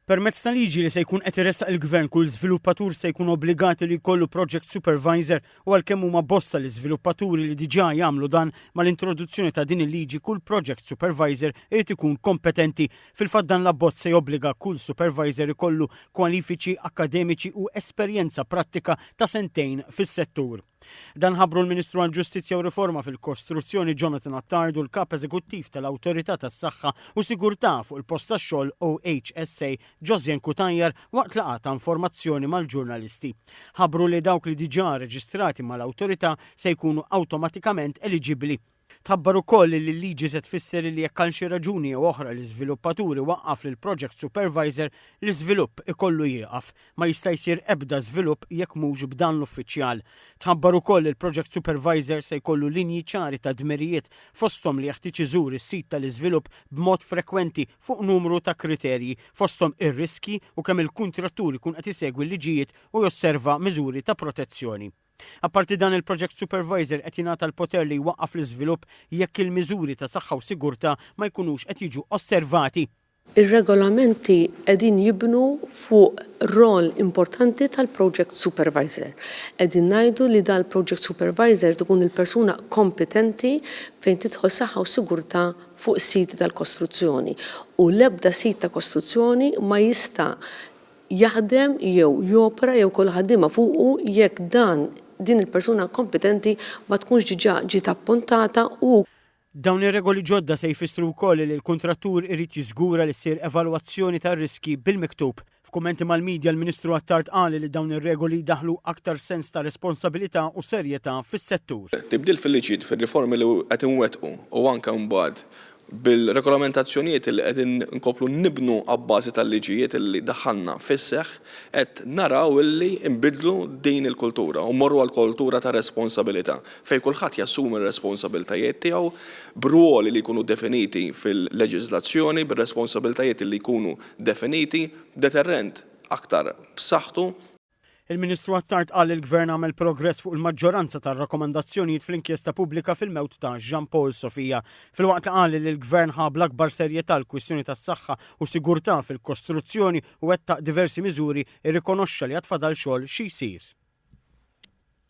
Permezz ta' liġi li se jkun qed iressaq il-Gvern kull żviluppatur se jkun obbligat li jkollu project supervisor u għalkemm huma bosta l-iżviluppaturi li diġà jagħmlu dan, mal-introduzzjoni ta' din il-liġi kull project supervisor irid ikun kompetenti. Fil-fatt dan l-abbozz se jobbliga kull supervisor ikollu kwalifiċi akkademiċi u esperjenza prattika ta' sentejn fis-settur. Dan ħabbru l-Ministru għall-Ġustizzja u Riforma fil-Kostruzzjoni Jonathan Attard u l-Kap Eżekuttiv tal-Awtorità tas-Saħħa u Sigurtà fuq il-Post tax-Xogħol OHSA Josian Cutajar waqt laqgħa ta' informazzjoni mal-ġurnalisti. Ħabbru li dawk li diġà reġistrati mal-Awtorità se jkunu awtomatikament eliġibbli Tħabbar ukoll li l-liġi se tfisser li jekk għal xi raġuni jew oħra l-iżviluppatur iwaqqaf lill-project supervisor, l-iżvilupp ikollu jieqaf. Ma jista' jsir ebda żvilupp jekk mhux b'dan l-uffiċjal. Tħabbar ukoll li l-project supervisor se jkollu linji ċari ta' dmirijiet, fosthom li jeħtieġ iżur is-sit tal-iżvilupp b'mod frekwenti fuq numru ta' kriterji, fosthom ir-riskji u kemm il-kuntratturi jkun qed isegwi l-liġijiet u josserva miżuri ta' protezzjoni. Apparti dan il-Project Supervisor qed jingħata l-poter li jwaqqaf l-iżvilupp jekk il-miżuri ta' saħħa u sigurtà ma jkunux qed jiġu osservati. Ir-Regolamenti qegħdin jibnu fuq rol importanti tal-Project Supervisor. Qegħdin ngħidu li dan il-Project Supervisor irid ikun il-persuna kompetenti fejn tidħol saħħa u sigurtà fuq is-siti tal-kostruzzjoni u l-ebda sit ta' kostruzzjoni ma jista' jaħdem jew jopera jew jkollu ħaddiema fuqu jekk dan, din il-persuna kompetenti ma tkunx diġà ġiet appuntata u. Dawn ir-regoli ġodda se jfissru wkoll li l-kuntrattur irid jiżgura li ssir evalwazzjoni tar-riskji bil-miktub. F'kummenti mal-media l-Ministru Attard qal li dawn ir-regoli jdaħħlu aktar sens ta' responsabilità u serjetà fis-settur. Tibdil fil-liġijiet, fir-riformi li qed inwettqu u anke mbagħad Bil-regolamentazzjonijiet li qegħdin inkomplu nibnu abbażi tal-liġijiet li daħħalna fis-seħħ, qed naraw li nbiddlu din il-kultura u mmorru għal kultura ta' responsabilità fejn kulħadd jassumi r-responsabiltajiet tiegħu b'rwoli li jkunu definiti fil-leġiżlazzjoni, bir-responsabiltajiet li jkunu definiti, b'deterrent aktar b'saħħtu. Il-Ministru Attard qal li l-Gvern għamel progress fuq il-maġġoranza tar-rakkomandazzjonijiet fl-inkjesta pubblika fil-mewt ta' Jean Paul Sofia, filwaqt li qal li l-Gvern ħa bl-akbar serjetà l-kwistjoni tas-saħħa u sigurtà fil-kostruzzjoni u wettaq diversi miżuri irrikonoxxa li għad fadal xogħol xi jsir.